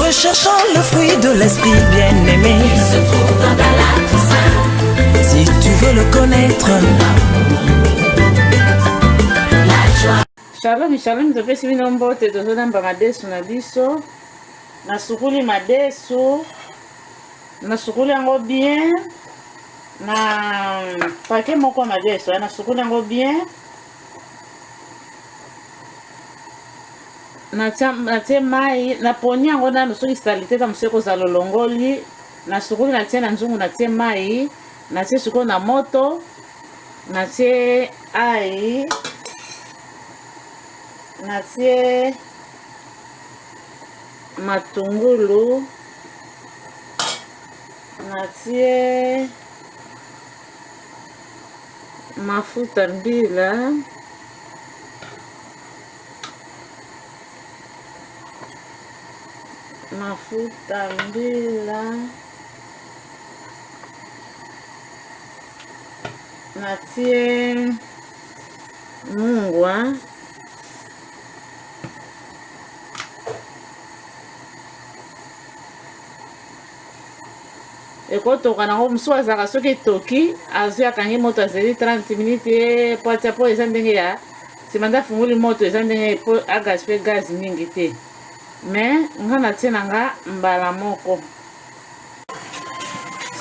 Recherchant le fruit de l'esprit bien-aimé. Il se trouve dans ta latte Si tu veux le connaître. Shalom, shalom, topesi bino mbote tozolamba madesu na biso nasukuli madesu nasukuli yango bien na pake moko ya madesu eh, nasukuli yango bien natie mai naponi yango nanu soki salite eza mosusu ekozala olongoli nasukuli natie na nzungu natie mai natie sikoyo na moto natie ai natie matungulu natie mafuta mbila mafuta mbila natie mungwa ekotoka nango mosusu azalaka soki etoki azwi akangi moto azeli 30 minute ye po atia po eza ndenge ya nsima nde afungoli moto eza ndenge po agaspe gaz mingi te me nga natie na nga mbala moko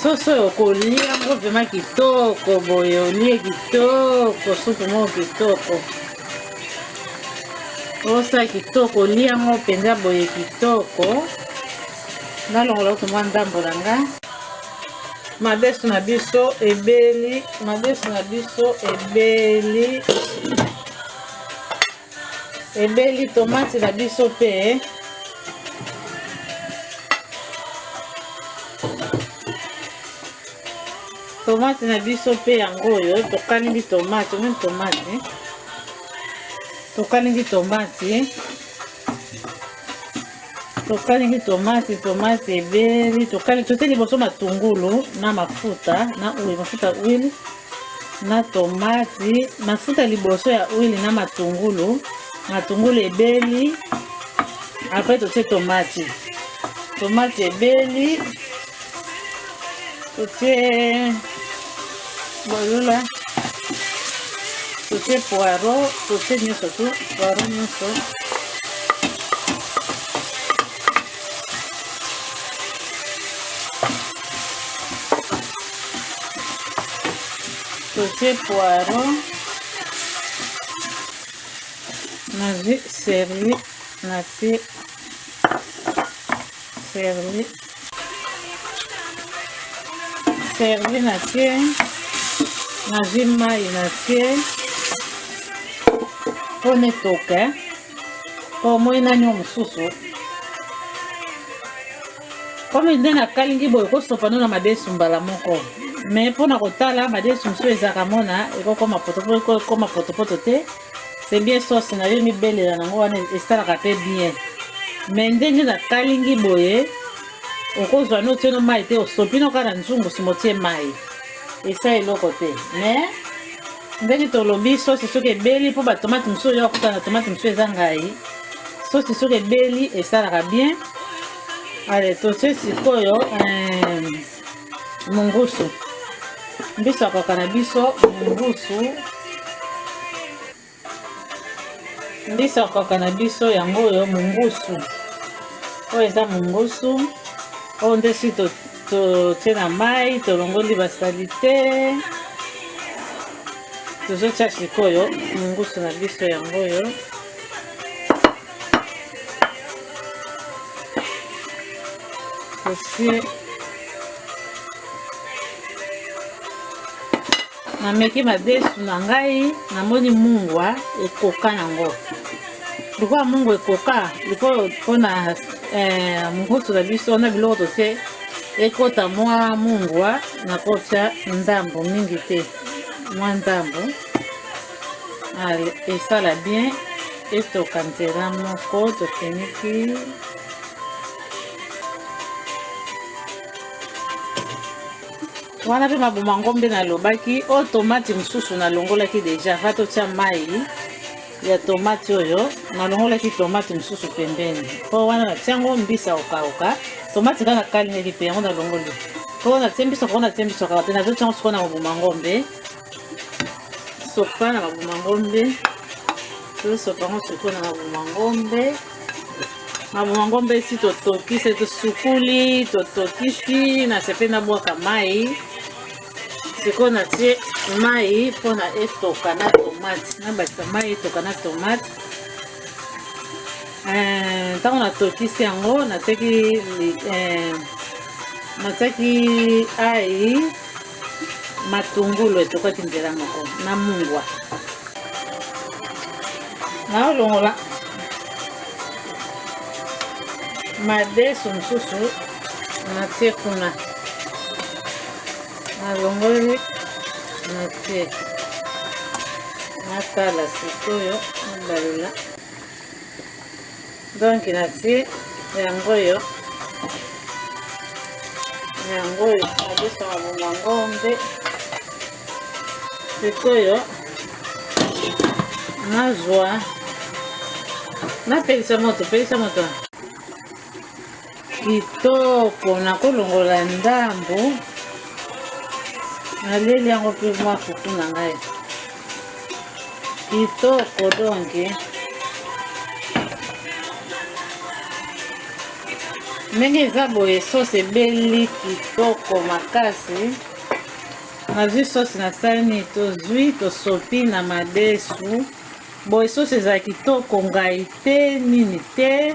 soso oyo kolia yango vrema kitoko boye olie kitoko supu moko kitoko osa kitoko olia yango mpenza boye kitoko nalongola kutu mwa ndambo na nga madesu na biso ebeli madesu na biso ebeli ebeli tomati na biso mpe tomate na biso mpe yango oyo tokalingi tomate omoni tomate tokalingi tomate tokalingi tomate tomate ebeli tokali tote liboso matungulu na mafuta na oyo mafuta huile na tomati mafuta liboso ya huile na matungulu matungulu ebeli apres totie tomati tomati ebeli totie bolula totie poiro totie nyonso tu poiro nyonso totie poiro nazwi servi natie servi servi na te nazwi mai na te mpo netoka mpo omoi nani yo mosusu komi nde nakalingi boye kosopano na madesu mbala moko me mpo na kotala madesu mosusu ezalaka mona ekokoma potopoto ekokoma potopoto te c'est bien sauce na yo mibelela nango wana esalaka mpe bien me ndenge na kalingi boye okozwa no otie no mai te osopi no kaka na nzungu nsima otie mai esa eloko te me ndenge tolobi sosi soki ebeli mpo batomate mosusu oyo akuta na tomate mosusu eza ngai sosi soki ebeli esalaka bien ale totie sikoyo eh, mungusu mbiso ya kaka na biso mungusu mbiso ya kaka na biso yango oyo mungusu oyo eza mungusu oyo nde si totie na mai tolongoli basalite tozotya sikoyo mungusu na biso yango oyo Esi nameki madesu na ngai namoni mungwa ekoka nango lokola mungwa ekoka likoyo mpona eh, mokusu na biso na biloko totie ekota mwa mungwa nakotya ndambo mingi te mwa ndambo esala bien etoka nzela moko tofiniki wana mpe mabuma ngombe nalobaki o oh, tomati mosusu nalongolaki deja va totya mai ya tomati oyo nalongolaki tomati mosusu pembeni mpo wana natya yango mbisi ya kokauka tomati kaka kalingaki mpe yango nalongoli mpo natye mbisi okoko natye mbisi okaka te nazotya yango sikoyo na mobuma ngombe sopa na babuma ngombe tosopa yango soko na babuma ngombe babuma ngombe esi totokisi tosukuli totokisi na sepe nabwaka mai sikoyo natie mai mpona etoka na tomate nabakisa mai etoka na tomate eh, ntango natokisi yango natiaki eh, natiaki ai matungulu etokaki nzela moko na mungwa naolongola madesu mosusu natie kuna nalongoli natie natala sikoyo nabalula donc natie yango oyo yango oyo nabosaka bonga ngombe sikoyo nazwa napelisa moto pelisa moto kitoko nakolongola ndambo naleli yango mpe mwa fufu na ngai kitoko donke ndenge eza boye sosi ebeli kitoko makasi nazwi sosi na sani tozwi tosopi na madesu boye sosi eza kitoko ngai te nini te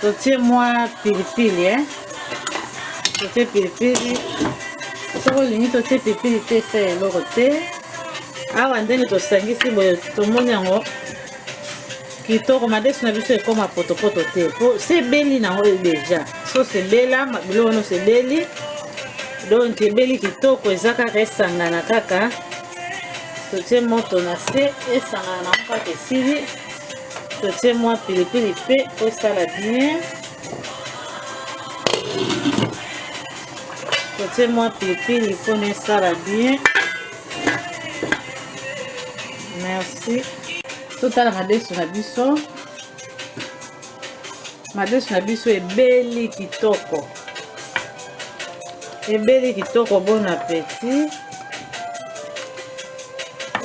totie mwa pilipili eh? totie pilipili soki olingi totie pilipili te esa ya eloko te awa ndenge tosangisi boye tomoni yango kitoko madesu na biso ekoma potopoto te po sebeli nango deja so sebela biloko wana osebeli donc ebeli kitoko eza kaka esangana kaka totie moto na se esangana nango kaka esili totie mwa pilipili mpe tosala bien totie mwa pilipili mpo na esala bien merci totala madesu na biso madesu na biso ebeli kitoko ebeli kitoko bon appetit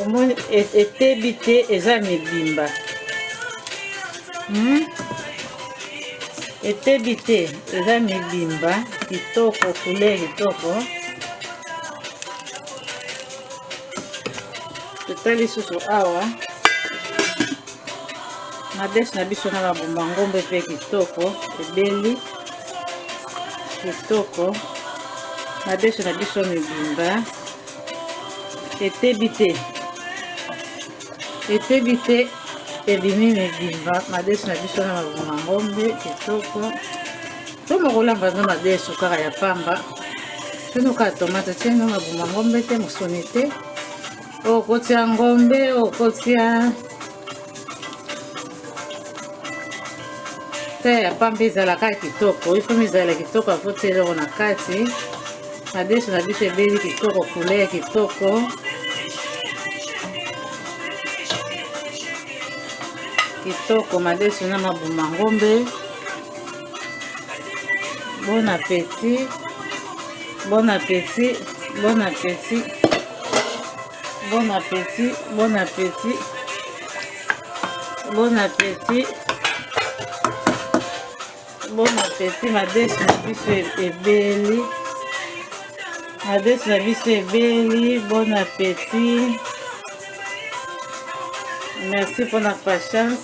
omoni e-, etebi te eza mibimba hmm? etebi te eza mibimba kitoko kule kitoko totali susu awa na desi na biso na babomba ngombe mpe kitoko ebeli kitoko madesu na biso mibimba etebi te etebi te ebimi mibimba madesu na biso na mabuma ngombe kitoko toma kolamba no madesu kaka ya pamba tino kaka tomate tieno mabuma ngombe te mosuni te okotia ngombe okotia te ya pamba ezalaka kitoko ifomi ezala kitoko afoti eloko na kati madesu na biso ebeli kitoko kule ya kitoko kitoko madesu na mabuma ngombe bon appétit bon appétit bon appétit Bon appétit, bon appétit. Bon appétit. Bon appétit, ma desi na biso ebeli. Ma desi na biso ebeli, bon appétit. Merci pour la patience.